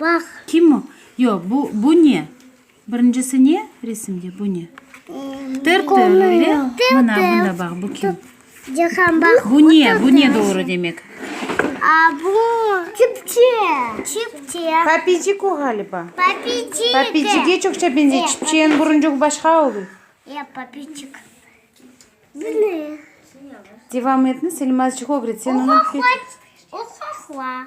Bax. Kim o? Yoq, bu, bu ne? Birincisi ne resimde, bu ne? Tır-tır, öyle? Mına, bunda bax, bu kim? Bu ne, bu ne doğru demek? A, bu, çipçe. Çipçe. Papicik o, ğaliba. Papicik. Papicige çoqça beñzey, çipçenin buruncuğı başqa oluy. Yoq, papicik. Bu ne? Devam etniz, İlmazcıq ögret, sen onı. Uhahua, uhahua.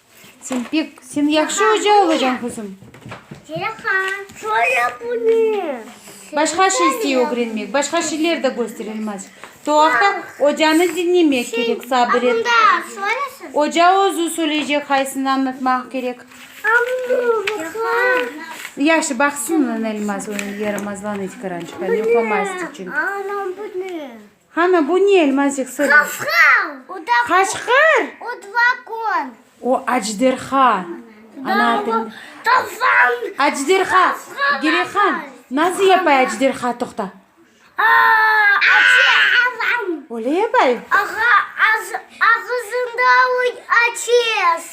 Sen pek, sen yahşı oca olacañ, quzum. Cereqa, şöyle bu ne? Başqa şey istey ögrenmek, başqa şeyler de gösterilmez. Toaqta ocanı diñlemek kerek, sabır et. Bunda şöylesiz. Oca özü söyleycek, qaysını añlatmaq kerek. Yahşı, baqsın, Elmaz, yaramazlanıy tikarançıqtan, yoqlamayız içün. Anam bu ne? Hana, bu ne, Elmazik? Sır ver. Qaçqır! Qaçqır! O dvakon. O ajderha. Ana tilinde. Tofan! Ajderha! Girehan, nasıl yapay ajderha toqta? Açeavam! Öyle yapay? Aha, ağızında ateş.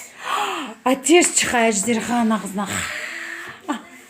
Ateş çıqay ajderhanıñ ağızından.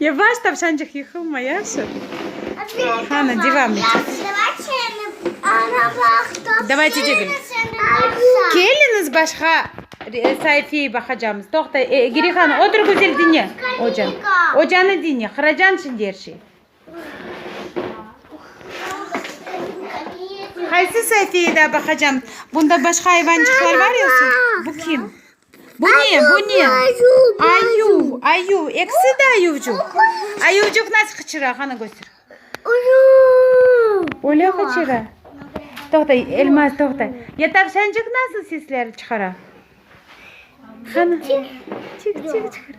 Yavaş, tavşancıq, yıqılma, yahşı? Qani, devam etemiz. Davayçe degil. Keliñiz, başqa saifeye baqacamız. Toqta, Girihan, otur, güzel diñle ocanı. Ocanı diñle, qıracan şimdi er şey. Qaysı saifeye daa baqacam? Bunda başqa ayvancıqlar bar yoqsa? Bu kim? Bu ne, bu ne? Ayuv, ayuv, eksi de ayuvcuq. Ayuvcuq nasıl qıçıra, qanı köster. Öyle qıçıra. Toqta, Elmaz, toqta. Ya tavşancıq nasıl sesler çıqara? Qanı, çik-çik çıqara.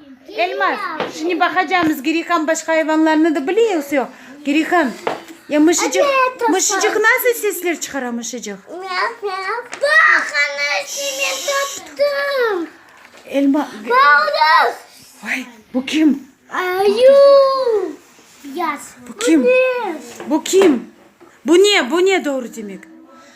Elmaz, şimdi baqacamız, Girikan başqa ayvanlarnı da bile yoksa yoq? Girikan, ya mışıcıq, mışıcıq nasıl sesler çıqara mışıcıq? Myav, myav. Bax, ana, şimdi taptım. Elma, Balık. vay, bu kim? Ayı. Beyaz. Bu kim? Bu kim? Bu ne, bu ne doğru demek?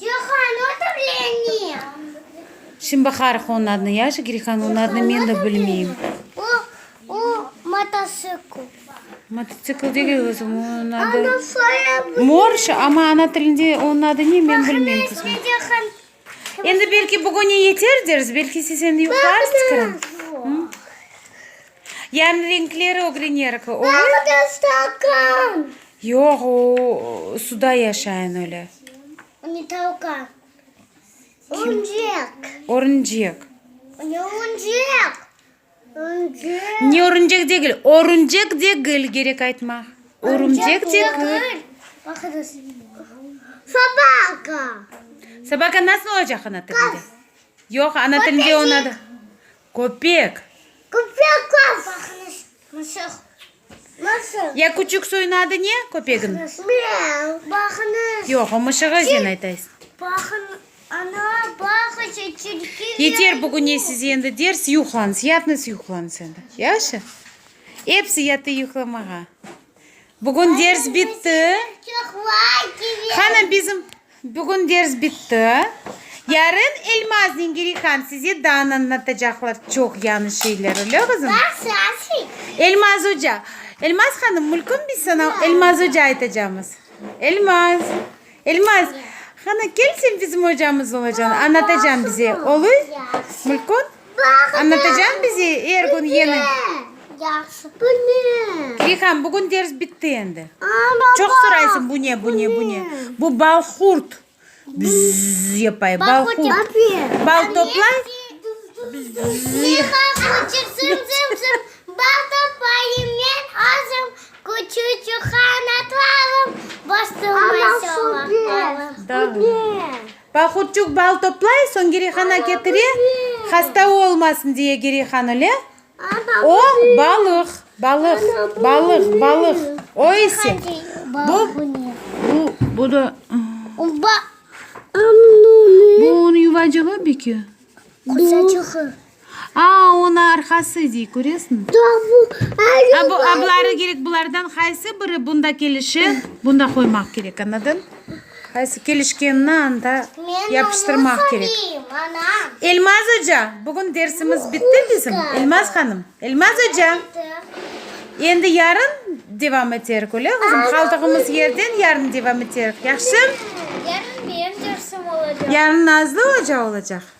Cihan, otur leni! Şimdi baqarıq onıñ adını. Yaşı Cihan, onıñ adını men de bilmeyim. O, o mototsikl. Mototsikl degil, qızım, onıñ adı. Ana, soya bu. Morş, amma ana tilinde onıñ adı ne, men bilmeyim, qızım. Bahane işte Cihan. Endi belki bugüne yeter deriz, belki siz endi yuqlarsız, qızım. Hı? Yani renkleri ögrenerik. Nerede stakan? Yoq, o suda yaşayan öyle. O ne tavkan? Örümcek. Örümcek. O ne örümcek? Örümcek. Ne örümcek degil. Örümcek degil gerek aytmaq. Örümcek degil. Baqınız. Sabaka. Sabaka nasıl olacaq ana tilinde? Yoq, ana tilinde onun adı. Köpek. Köpek qal. Baqınız, mısıq. Mısıq. Ya küçük soyun adı ne köpegin? Baqınız. Miau. Baqınız. Yoq, o mışığı ezen aytaysız. Baqın, ana, baqıç, tilki. Yeter bugüne size endi ders, yuqlanıs, yatnıs, yuqlanıs endi. Yahşı? Epsi yatı yuqlamağa. Bugün ders bitti. Hanım bizim bugün ders bitti. Yarın Elmaz Ningirihan size dan anlatacaqlar çoq yañı şeyler, öyle qızım? Elmaz oca. Elmaz hanım, mülkün biz sana Elmaz oca aytacamız. Elmaz. Elmaz, qani, kel, sen bizim ocamız olacañ, añlatacañ bize, oluy? Mulkon, añlatacañ bize er kün yeni? Yahşı, bu ne? Reyhan, bugün ders bitti endi. Çoq soraysıñ, bu ne, bu ne, bu ne? Bu bal qurt. Bzzz yapay, bal qurt. Bal toplay. Bzzz. Reyhan, qoçır, zım, zım, zım. Bal toplayım, men azım. Küçücük qanatlarım, boş durmay soñlaqlarım. Pahutçuk bal toplay, soñ Girihana ketire, hasta olmasın diye Girihan öle. O, balıq, balıq, balıq, balıq. O ise, bu, bu, bu da, bu, bu onıñ yuvacığı beki? Quzaçığı. Aa, onı arqası dey, köresmi? A, bu abları kerek, bulardan qaysı biri bunda kelişe, bunda qoymaq kerek, añladın? Qaysı kelişkenini anda yapıştırmaq kerek. Elmaz oca, bugün dersimiz bitti bizim, Elmaz hanım? Elmaz oca! Endi yarın devam eterik, öyle qızım? Qaldığımız yerden yarın devam eterik, yahşı? Yarın benim dersim olacaq. Yarın Nazlı oca olacaq.